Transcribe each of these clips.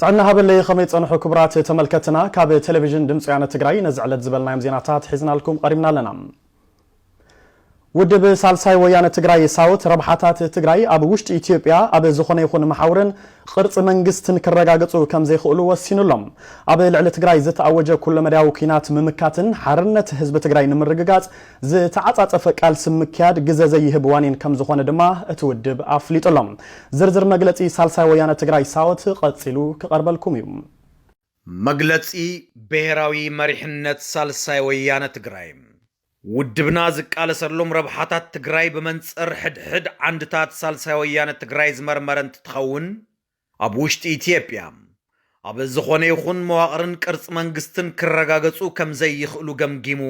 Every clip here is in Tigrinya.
ጥዕና ሃበለይ ኸመይ ጸንሑ ክቡራት ተመልከትና ካብ ቴሌቪዥን ድምጺ ወያነ ትግራይ ነዚ ዕለት ዝበልናዮም ዜናታት ሒዝናልኩም ቐሪብና ኣለና። ውድብ ሳልሳይ ወያነ ትግራይ ሳውት ረብሓታት ትግራይ ኣብ ውሽጢ ኢትዮጵያ ኣብ ዝኾነ ይኹን መሓውርን ቕርፂ መንግስትን ክረጋገፁ ከምዘይኽእሉ ወሲኑ ኣሎ። ኣብ ልዕሊ ትግራይ ዝተኣወጀ ኩለመዳያዊ ኲናት ምምካትን ሓርነት ህዝቢ ትግራይ ንምርግጋፅ ዝተዓጻጸፈ ቃልሲ ምክያድ ግዘ ዘይህብ ዋኒን ከምዝኾነ ድማ እቲ ውድብ ኣፍሊጡ ኣሎ። ዝርዝር መግለጺ ሳልሳይ ወያነ ትግራይ ሳወት ቐጺሉ ክቐርበልኩም እዩ። መግለጺ ብሄራዊ መሪሕነት ሳልሳይ ወያነ ትግራይ ውድብና ዝቃለሰሎም ረብሓታት ትግራይ ብመንጽር ሕድሕድ ዓንድታት ሳልሳይ ወያነ ትግራይ ዝመርመረ እንትትኸውን፣ ኣብ ውሽጢ ኢትዮጵያ ኣብ ዝኾነ ይኹን መዋቕርን ቅርፂ መንግስትን ክረጋገፁ ከምዘይኽእሉ ገምጊሙ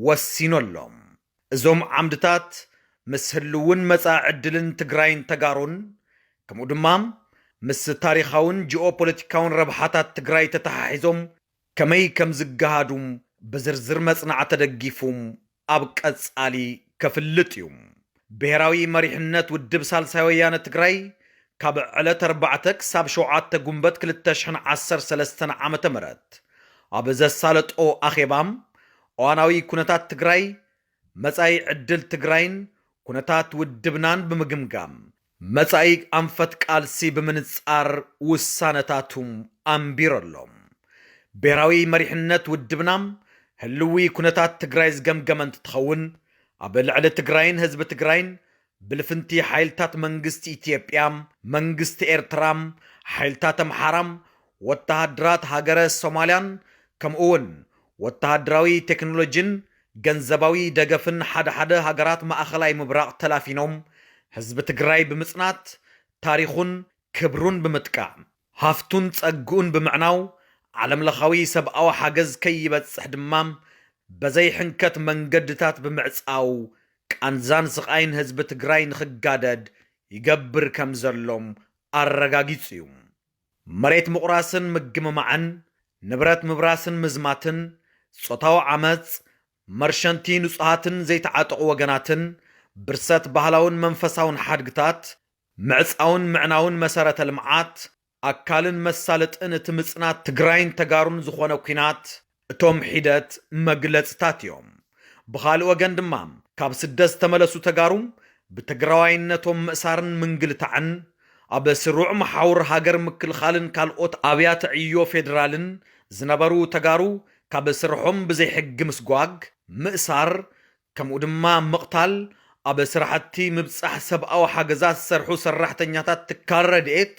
ወሲኑ ኣሎ። እዞም ዓምድታት ምስ ህልውን መፃኢ ዕድልን ትግራይን ተጋሩን ከምኡ ድማ ምስ ታሪኻውን ጂኦፖለቲካውን ረብሓታት ትግራይ ተተሓሒዞም ከመይ ከምዝገሃዱ ብዝርዝር መፅናዕ ተደጊፉ ኣብ ቀፃሊ ከፍልጥ እዩ። ብሄራዊ መሪሕነት ውድብ ሳልሳይ ወያነ ትግራይ ካብ ዕለት ኣርባዕተ ክሳብ ሸውዓተ ጉንበት ክልተ ሽሕን ዓሰርተ ሰለስተን ዓመተ ምህረት ኣብ ዘሳለጦ ኣኼባ እዋናዊ ኩነታት ትግራይ፣ መፃኢ ዕድል ትግራይን ኩነታት ውድብናን ብምግምጋም መጻኢ ኣንፈት ቃልሲ ብምንጻር ውሳነታቱ ኣንቢሩ ኣሎ። ብሄራዊ መሪሕነት ውድብና ህልዊ ኩነታት ትግራይ ዝገምገመ እንትትኸውን፣ ኣብ ልዕሊ ትግራይን ህዝቢ ትግራይን ብልፍንቲ ሓይልታት መንግስቲ ኢትዮጵያ፣ መንግስቲ ኤርትራ፣ ሓይልታት ኣምሓራ፣ ወተሃደራት ሃገረ ሶማልያን ከምኡ'ውን ወተሃደራዊ ቴክኖሎጂን ገንዘባዊ ደገፍን ሓደ ሓደ ሃገራት ማእኸላይ ምብራቕ ተላፊኖም ህዝቢ ትግራይ ብምፅናት ታሪኹን ክብሩን ብምጥቃዕ ሃፍቱን ፀግኡን ብምዕናው ዓለም ለኻዊ ሰብኣዊ ሓገዝ ከይበፅሕ ድማ በዘይ ሕንከት መንገድታት ብምዕፃው ቃንዛን ስቓይን ህዝቢ ትግራይ ንኽጋደድ ይገብር ከምዘሎም ኣረጋጊፁ ዩ። መሬት ምቑራስን ምግምማዕን፣ ንብረት ምብራስን ምዝማትን፣ ጾታዊ ዓመጽ፣ መርሸንቲ ንጹሃትን ዘይተዓጠቑ ወገናትን፣ ብርሰት ባህላውን መንፈሳውን ሓድግታት፣ ምዕጻውን ምዕናውን መሰረተ ልምዓት፣ ኣካልን መሳለጥን እቲ ምጽናት ትግራይን ተጋሩን ዝኾነ ኲናት፣ እቶም ሒደት መግለፅታት እዮም። ብኻልእ ወገን ድማ ካብ ስደት ዝተመለሱ ተጋሩ ብትግራዋይነቶም ምእሳርን ምንግልታዕን፣ ኣብ ስሩዕ መሓውር ሃገር ምክልኻልን ካልኦት ኣብያተ ዕዮ ፌዴራልን ዝነበሩ ተጋሩ ካብ ስርሖም ብዘይሕጊ ምስጓግ፣ ምእሳር፣ ከምኡ ድማ ምቕታል ኣብ ስራሕቲ ምብፃሕ ሰብኣዊ ሓገዛት ዝሰርሑ ሰራሕተኛታት ትካል ረድኤት፣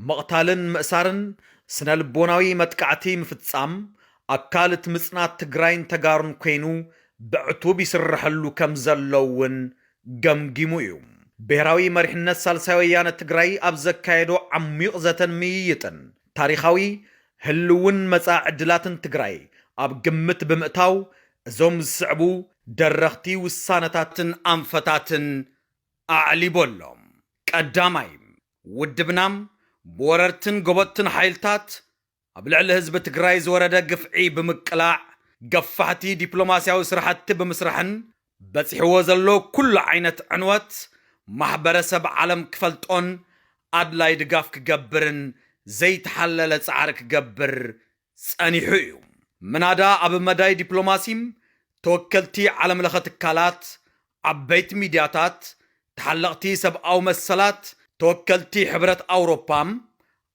ምቕታልን ምእሳርን፣ ስነ ልቦናዊ መጥቃዕቲ ምፍፃም፣ ኣካል እቲ ምፅናት ትግራይን ተጋሩን ኮይኑ ብዕቱብ ይስረሐሉ ከምዘሎ እውን ገምጊሙ እዩ። ብሄራዊ መሪሕነት ሳልሳይ ወያነ ትግራይ ኣብ ዘካየዶ ዓሚዩቕ ዘተን ምይይጥን፣ ታሪኻዊ፣ ህልውን መፃኢ ዕድላትን ትግራይ ኣብ ግምት ብምእታው እዞም ዝስዕቡ ደረኽቲ ውሳነታትን ኣንፈታትን ኣዕሊቦ ኣሎ። ቀዳማይ፣ ውድብና ብወረርትን ጎበጥትን ሓይልታት ኣብ ልዕሊ ህዝቢ ትግራይ ዝወረደ ግፍዒ ብምቅላዕ፣ ገፋሕቲ ዲፕሎማሲያዊ ስራሕቲ ብምስራሕን በጺሕዎ ዘሎ ኩሉ ዓይነት ዕንወት ማሕበረሰብ ዓለም ክፈልጦን ኣድላይ ድጋፍ ክገብርን ዘይተሓለለ ጻዕሪ ክገብር ጸኒሑ እዩ። ምናዳ ኣብ መዳይ ዲፕሎማሲ ተወከልቲ ዓለም ለኸ ትካላት፣ ዓበይቲ ሚድያታት፣ ተሓለቕቲ ሰብኣዊ መሰላት፣ ተወከልቲ ሕብረት ኣውሮፓ፣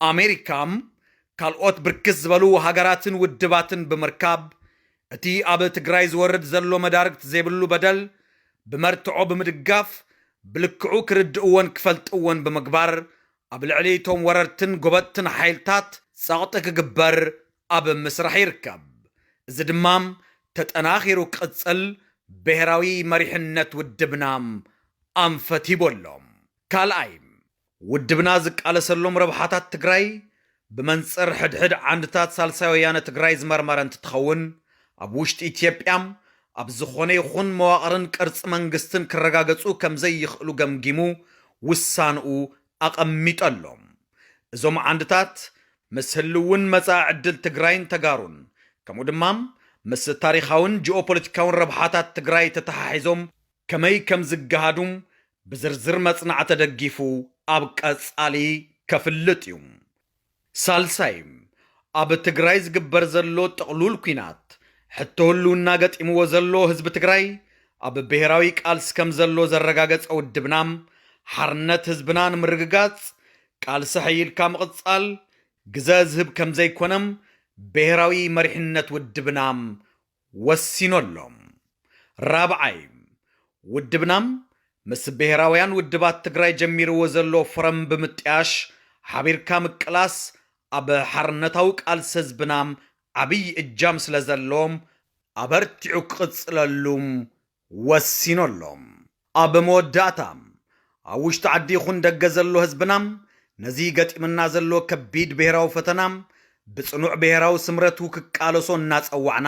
ኣሜሪካ፣ ካልኦት ብርክት ዝበሉ ሃገራትን ውድባትን ብምርካብ እቲ ኣብ ትግራይ ዝወርድ ዘሎ መዳርግቲ ዘይብሉ በደል ብመርትዖ ብምድጋፍ ብልክዑ ክርድእዎን ክፈልጥዎን ብምግባር ኣብ ልዕሊ እቶም ወረርትን ጎበጥትን ሓይልታት ጸቕጢ ክግበር ኣብ ምስራሕ ይርከብ። እዚ ድማ ተጠናኺሩ ክቕጽል ብሄራዊ መሪሕነት ውድብና ኣንፈት ሂቡ ኣሎ። ካልኣይ፣ ውድብና ዝቃለሰሎም ረብሓታት ትግራይ ብመንፅር ሕድሕድ ዓንድታት ሳልሳይ ወያነ ትግራይ ዝመርመረ እንትትኸውን ኣብ ውሽጢ ኢትዮጵያ ኣብ ዝኾነ ይኹን መዋቕርን ቅርፂ መንግስትን ክረጋገፁ ከምዘይኽእሉ ገምጊሙ ውሳንኡ ኣቐሚጡ ኣሎ። እዞም ዓንድታት ምስ ህልውን መፃኢ ዕድል ትግራይን ተጋሩን ከምኡ ድማ ምስ ታሪኻዊን ጂኦፖለቲካዊን ረብሓታት ትግራይ ተተሓሒዞም ከመይ ከም ዝገሃዱ ብዝርዝር መጽናዕ ተደጊፉ ኣብ ቀጻሊ ከፍልጥ እዩ። ሳልሳይ፣ ኣብ ትግራይ ዝግበር ዘሎ ጥቕሉል ኩናት፣ ሕቶ ህልውና ገጢምዎ ዘሎ ህዝቢ ትግራይ ኣብ ብሄራዊ ቃልሲ ከም ዘሎ ዘረጋገጸ ውድብና፣ ሓርነት ህዝብና ንምርግጋጽ ቃልሲ ሐይልካ ምቕጻል ግዘ ዝህብ ከም ዘይኮነ ብሄራዊ መሪሕነት ውድብና ወሲኑ ኣሎ። ራብዓይ፣ ውድብና ምስ ብሄራውያን ውድባት ትግራይ ጀሚርዎ ዘሎ ፎረም ብምጥያሽ ሓቢርካ ምቅላስ ኣብ ሓርነታዊ ቃልሲ ህዝብና ዓብይ እጃም ስለዘለዎ ኣበርቲዑ ክቕፅለሉ ወሲኑ ኣሎ። ኣብ መወዳእታ፣ ኣብ ውሽጢ ዓዲ ይኹን ደገ ዘሎ ህዝብና፣ ነዚ ገጢሙና ዘሎ ከቢድ ብሄራዊ ፈተና፣ ብጽኑዕ ብሄራዊ ስምረቱ ክቃለሶ እናጸዋዕና፣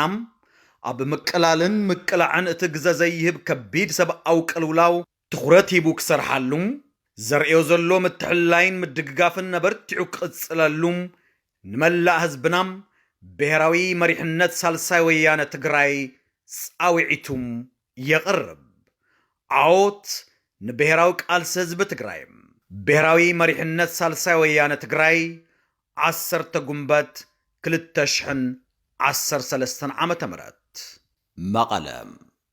ኣብ ምቅላልን ምቅላዕን እቲ ግዘ ዘይህብ ከቢድ ሰብኣዊ ቅልውላው፣ ትኹረት ሂቡ ክሰርሓሉ፣ ዘርእዮ ዘሎ ምትሕልላይን ምድግጋፍን ኣበርቲዑ ክቕፅለሉ ንመላእ ህዝብና ብሄራዊ መሪሕነት ሳልሳይ ወያነ ትግራይ ፃውዒቱ የቕርብ። ዓወት ንብሄራዊ ቃልሲ ህዝቢ ትግራይ! ብሄራዊ መሪሕነት ሳልሳይ ወያነ ትግራይ ዓሰርተ ጉንበት ክልተ ሽሕን ዓሰርተ ሰለስተን ዓመተ ምህረት መቐለ፣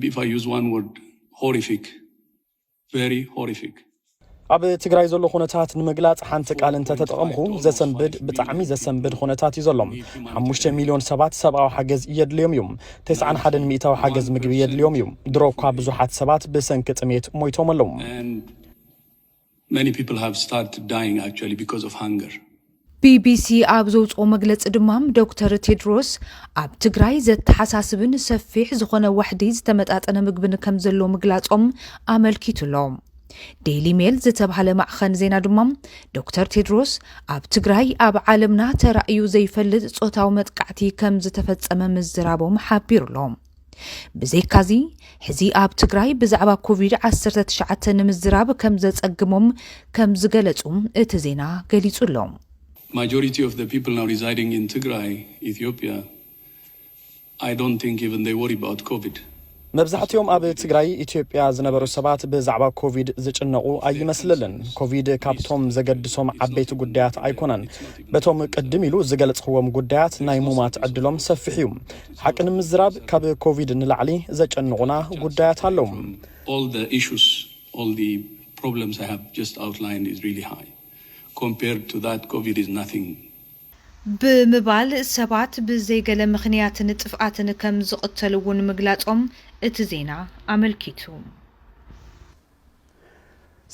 ቢ ኢፍ ኣይ ዩዝ ዋን ወርድ ሆሪፊክ ቨሪ ሆሪፊክ። ኣብ ትግራይ ዘሎ ኩነታት ንምግላፅ ሓንቲ ቃል እንተተጠቐምኹ ዘሰንብድ ብጣዕሚ ዘሰንብድ ኩነታት እዩ ዘሎ። ሓሙሽተ ሚልዮን ሰባት ሰብኣዊ ሓገዝ የድልዮም እዩ። ተስዓን ሓደን ሚእታዊ ሓገዝ ምግቢ የድልዮም እዩ። ድሮ እኳ ብዙሓት ሰባት ብሰንኪ ጥሜት ሞይቶም ኣለዉ። Many people have started dying actually because of hunger. ቢቢሲ ኣብ ዘውፅኦ መግለፂ ድማ ዶክተር ቴድሮስ ኣብ ትግራይ ዘተሓሳስብን ሰፊሕ ዝኾነ ዋሕዲ ዝተመጣጠነ ምግብን ከምዘሎ ምግላፆም ኣመልኪቱ ኣሎ። ዴይሊ ሜል ዝተብሃለ ማዕኸን ዜና ድማ ዶክተር ቴድሮስ ኣብ ትግራይ ኣብ ዓለምና ተራእዩ ዘይፈልጥ ፆታዊ መጥቃዕቲ ከምዝተፈፀመ ምዝራቦም ሓቢሩ ኣሎ። ብዘይካዚ ሕዚ ኣብ ትግራይ ብዛዕባ ኮቪድ ዓሰርተ ትሽዓተ ንምዝራብ ከም ዘጸግሞም ከም ዝገለጹ እቲ ዜና ገሊጹ ኣሎ። Majority of the people now residing in Tigray, Ethiopia, I don't think even they worry about Covid. መብዛሕቲኦም ኣብ ትግራይ ኢትዮጵያ ዝነበሩ ሰባት ብዛዕባ ኮቪድ ዝጭነቑ ኣይመስልልን። ኮቪድ ካብቶም ዘገድሶም ዓበይቲ ጉዳያት ኣይኮነን። በቶም ቅድም ኢሉ ዝገልጽኽዎም ጉዳያት ናይ ሙማት ዕድሎም ሰፊሕ እዩ። ሓቂ ንምዝራብ ካብ ኮቪድ ንላዕሊ ዘጨንቑና ጉዳያት ኣለዉ። ብምባል ሰባት ብዘይ ገለ ምኽንያትን ጥፍኣትን ከም ዝቕተሉ'ውን ምግላጾም እቲ ዜና ኣመልኪቱ።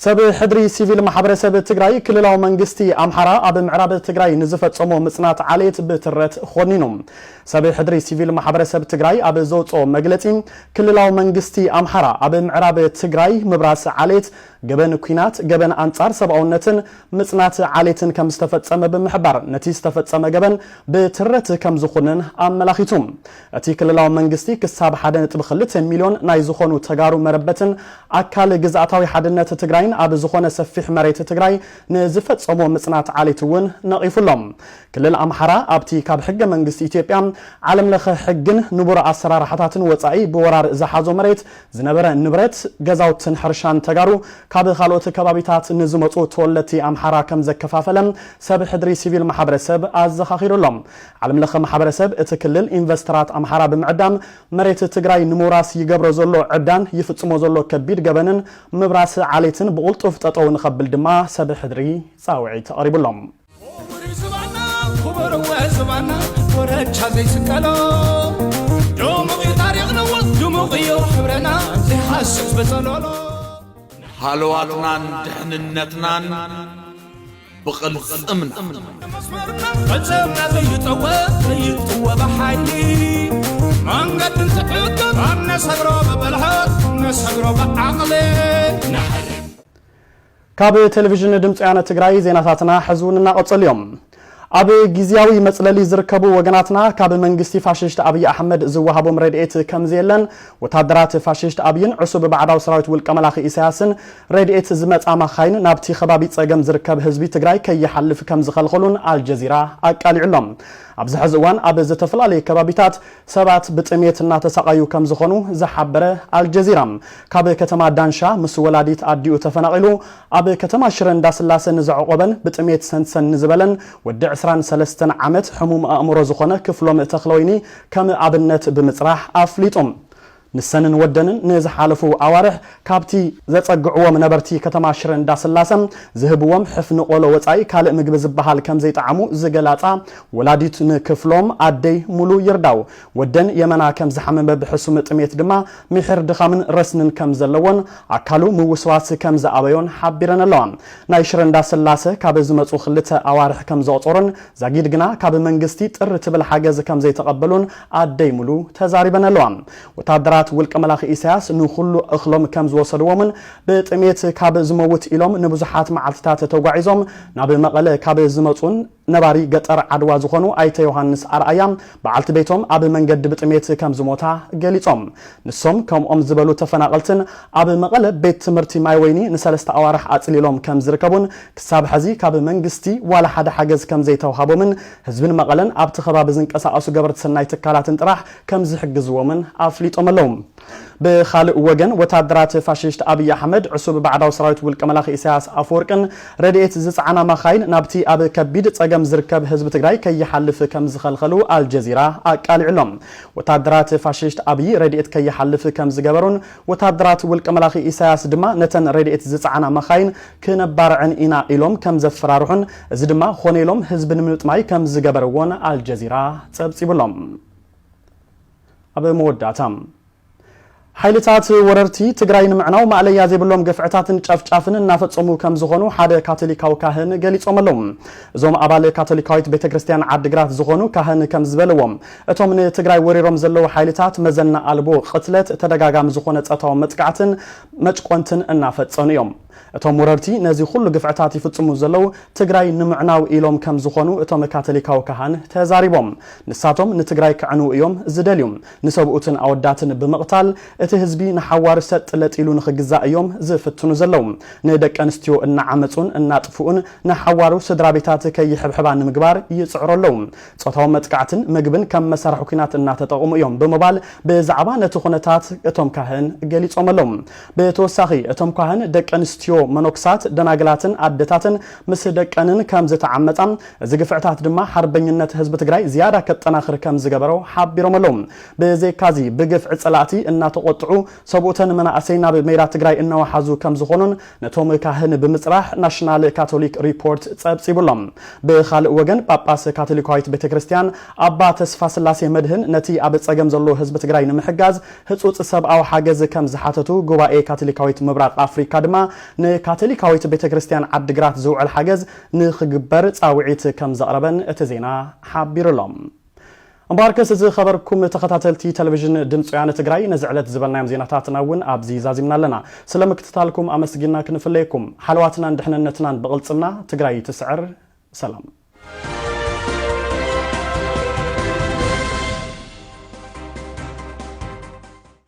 ሰብ ሕድሪ ሲቪል ማሕበረሰብ ትግራይ ክልላዊ መንግስቲ ኣምሓራ ኣብ ምዕራብ ትግራይ ንዝፈፀሞ ምፅናት ዓሌት ብትረት ኾኒኑ። ሰብ ሕድሪ ሲቪል ማሕበረሰብ ትግራይ ኣብ ዘውፅኦ መግለፂ ክልላዊ መንግስቲ ኣምሓራ ኣብ ምዕራብ ትግራይ ምብራስ ዓሌት፣ ገበን ኲናት፣ ገበን ኣንፃር ሰብኣውነትን ምፅናት ዓሌትን ከምዝተፈፀመ ብምሕባር ነቲ ዝተፈፀመ ገበን ብትረት ከምዝኹንን ኣመላኺቱ። እቲ ክልላዊ መንግስቲ ክሳብ ሓደ ነጥቢ ክልተ ሚልዮን ናይ ዝኾኑ ተጋሩ መረበትን ኣካል ግዝኣታዊ ሓድነት ትግራይን ኣብ ዝኾነ ሰፊሕ መሬት ትግራይ ንዝፈፀሞ ምፅናት ዓሌት እውን ነቒፉ ኣሎ። ክልል ኣምሓራ ኣብቲ ካብ ሕገ መንግስቲ ኢትዮጵያ፣ ዓለም ለኸ ሕግን ንቡር ኣሰራርሓታትን ወፃኢ ብወራር ዝሓዞ መሬት ዝነበረ ንብረት፣ ገዛውትን ሕርሻን ተጋሩ ካብ ካልኦት ከባቢታት ንዝመፁ ተወለድቲ ኣምሓራ ከምዘከፋፈለ ሰብ ሕድሪ ሲቪል ማሕበረሰብ ኣዘኻኺሩ ኣሎ። ዓለም ለኸ ማሕበረሰብ እቲ ክልል ኢንቨስተራት ኣምሓራ ብምዕዳም መሬት ትግራይ ንምውራስ ይገብሮ ዘሎ ዕብዳን ይፍፅሞ ዘሎ ከቢድ ገበንን ምብራስ ዓሌትን ብቕልጡፍ ጠጠው ንኸብል ድማ ሰብ ሕድሪ ፃውዒት ኣቕሪቡ ኣሎ። ኹቡር ዝባና ኹቡር ወ ዝባና ኮረቻ ዘይስቀሎ ድሙቕ እዩ ታሪኽናዎ ድሙቕ እዩ ሕብረና ዘይሓስስ በፀሎሎ። ንሃለዋትናን ድሕንነትናን ብቕልጽምና ካብ ቴሌቭዥን ድምፂ ወያነ ትግራይ ዜናታትና ሕዚ እውን እናቐፀሉ እዮም። ኣብ ግዝያዊ መፅለሊ ዝርከቡ ወገናትና ካብ መንግስቲ ፋሽስት ኣብይ ኣሕመድ ዝወሃቦም ረድኤት ከምዘየለን ወታደራት ፋሽስት ኣብይን ዕሱብ ባዕዳዊ ሰራዊት ውልቀ መላኺ ኢሳያስን ረድኤት ዝመጻ ማካይን ናብቲ ከባቢ ጸገም ዝርከብ ህዝቢ ትግራይ ከይሓልፍ ከምዝኸልኸሉን ኣልጀዚራ ኣቃሊዑ ኣሎ። ኣብዚ ሐዚ እዋን ኣብ ዝተፈላለየ ከባቢታት ሰባት ብጥሜት እናተሳቐዩ ከምዝኾኑ ዝሓበረ ኣልጀዚራ፣ ካብ ከተማ ዳንሻ ምስ ወላዲት ኣዲኡ ተፈናቒሉ ኣብ ከተማ ሽረ እንዳስላሰ ንዘዕቖበን ብጥሜት ሰንሰን ንዝበለን ወዲ ዕስራን ሰለስተን ዓመት ሕሙም ኣእምሮ ዝኾነ ክፍሎም ተኽለወይኒ ከም ኣብነት ብምፅራሕ ኣፍሊጡ። ንሰንን ወደንን ንዝሓለፉ ኣዋርሕ ካብቲ ዘጸግዕዎም ነበርቲ ከተማ ሽረ እንዳስላሰ ዝህብዎም ሕፍኒ ቆሎ ወጻኢ ካልእ ምግቢ ዝበሃል ከምዘይጠዓሙ ዝገላጻ ወላዲት ንክፍሎም ኣደይ ሙሉ ይርዳው ወደን የመና ከምዝሓመመ ብሕሱም ጥሜት ድማ ሚሒር ድኻምን ረስንን ከምዘለዎን ኣካሉ ምውስዋስ ከምዝኣበዮን ሓቢረን ኣለዋ። ናይ ሽረ እንዳስላሰ ካብ ዝመጹ ክልተ ኣዋርሕ ከምዘቑጸሩን ዛጊድ ግና ካብ መንግስቲ ጥር ትብል ሓገዝ ከምዘይተቐበሉን ኣደይ ሙሉ ተዛሪበን ኣለዋ። ወታደራት ውልቀ መላኺ ኢሳያስ ንኹሉ እኽሎም ከም ዝወሰድዎምን ብጥሜት ካብ ዝመውት ኢሎም ንብዙሓት መዓልቲታት ተጓዒዞም ናብ መቐለ ካብ ዝመጹን ነባሪ ገጠር ዓድዋ ዝኾኑ ኣይተ ዮሃንስ ኣርኣያ በዓልቲ ቤቶም ኣብ መንገዲ ብጥሜት ከም ዝሞታ ገሊጾም። ንሶም ከምኦም ዝበሉ ተፈናቐልትን ኣብ መቐለ ቤት ትምህርቲ ማይወይኒ ንሰለስተ ኣዋርሕ ኣጽሊሎም ከም ዝርከቡን ክሳብ ሐዚ ካብ መንግስቲ ዋላ ሓደ ሓገዝ ከም ዘይተውሃቦምን ህዝብን መቐለን ኣብቲ ከባቢ ዝንቀሳቐሱ ገበርቲ ሰናይ ትካላትን ጥራሕ ከምዝሕግዝዎምን ኣፍሊጦም ኣለው። ብኻልእ ወገን ወታደራት ፋሽስት ኣብይ ኣሕመድ ዕሱብ ባዕዳዊ ሰራዊት ውልቀ መላኺ ኢሳያስ ኣፈወርቅን ረድኤት ዝፀዓና ማኻይን ናብቲ ኣብ ከቢድ ፀገም ዝርከብ ህዝቢ ትግራይ ከይሓልፍ ከምዝኸልኸሉ ኣልጀዚራ ኣቃሊዑ ኣሎ። ወታደራት ፋሽስት ኣብይ ረድኤት ከይሓልፍ ከምዝገበሩን ወተሃደራት ውልቀ መላኺ ኢሳያስ ድማ ነተን ረድኤት ዝጸዓና መኻይን ክነባርዐን ኢና ኢሎም ከም ዘፈራርሑን እዚ ድማ ኾነ ኢሎም ህዝቢ ንምጥማይ ከም ዝገበርዎን ኣልጀዚራ ጸብጺቡ ኣሎ። ኣብ መወዳእታ። ሓይልታት ወረርቲ ትግራይ ንምዕናው ማእለያ ዘይብሎም ግፍዕታትን ጨፍጫፍን እናፈጸሙ ከም ዝኾኑ ሓደ ካቶሊካዊ ካህን ገሊጾም ኣለዉ። እዞም ኣባል ካቶሊካዊት ቤተ ክርስቲያን ዓዲግራት ዝኾኑ ካህን ከም ዝበልዎም እቶም ንትግራይ ወሪሮም ዘለዉ ሓይልታት መዘና ኣልቦ ቕትለት፣ ተደጋጋሚ ዝኾነ ጸታዊ መጥቃዕትን መጭቆንትን እናፈጸኑ እዮም። እቶም ወረርቲ ነዚ ኹሉ ግፍዕታት ይፍጽሙ ዘለዉ ትግራይ ንምዕናው ኢሎም ከም ዝኾኑ እቶም ካተሊካዊ ካህን ተዛሪቦም። ንሳቶም ንትግራይ ከዕንዉ እዮም ዝደልዩ። ንሰብኡትን ኣወዳትን ብምቕታል እቲ ህዝቢ ንሓዋሩ ሰጥ ለጥ ኢሉ ንኽግዛእ እዮም ዝፍትኑ ዘለዉ። ንደቂ ኣንስትዮ እናዓመጹን እናጥፍኡን ንሓዋሩ ስድራቤታት ከይሕብሕባ ንምግባር ይጽዕሩ ኣለዉ። ጾታዊ መጥቃዕትን ምግብን ከም መሳርሒ ኲናት እናተጠቕሙ እዮም ብምባል ብዛዕባ ነቲ ኩነታት እቶም ካህን ገሊጾመሎም። ብተወሳኺ እቶም ኳህን ደቂ ኣንስትዮ መኖክሳት፣ ደናግላትን ኣደታትን ምስ ደቀንን ከም ዝተዓመጻ፣ እዚ ግፍዕታት ድማ ሓርበኝነት ህዝቢ ትግራይ ዝያዳ ከጠናኽር ከም ዝገበሮ ሓቢሮመሎም። ብዘይካዚ ብግፍዒ ጸላእቲ እናተቖጥዑ ሰብኡተን መናእሰይ ናብ ሜዳ ትግራይ እናወሓዙ ከም ዝኾኑን ነቶም ካህን ብምጽራሕ ናሽናል ካቶሊክ ሪፖርት ጸብጺቡ ኣሎ። ብኻልእ ወገን ጳጳስ ካቶሊካዊት ቤተ ክርስቲያን ኣባ ተስፋስላሴ መድህን ነቲ ኣብ ጸገም ዘሎ ህዝቢ ትግራይ ንምሕጋዝ ህጹጽ ሰብኣዊ ሓገዝ ከም ዝሓተቱ ጉባኤ ካቶሊካዊት ምብራቕ ኣፍሪካ ድማ ንካቶሊካዊት ቤተ ክርስቲያን ዓዲግራት ዝውዕል ሓገዝ ንኽግበር ጻውዒት ከም ዘቕረበን እቲ ዜና ሓቢሩ ኣሎ። እምበኣርከስ ዝኸበርኩም ተኸታተልቲ ተለቪዥን ድምፂ ወያነ ትግራይ ነዚ ዕለት ዝበልናዮም ዜናታትና እውን ኣብዚ ዛዚምና ኣለና። ስለ ምክትታልኩም ኣመስጊንና ክንፍለየኩም። ሓለዋትናን ድሕንነትናን ብቕልፅምና! ትግራይ ትስዕር! ሰላም!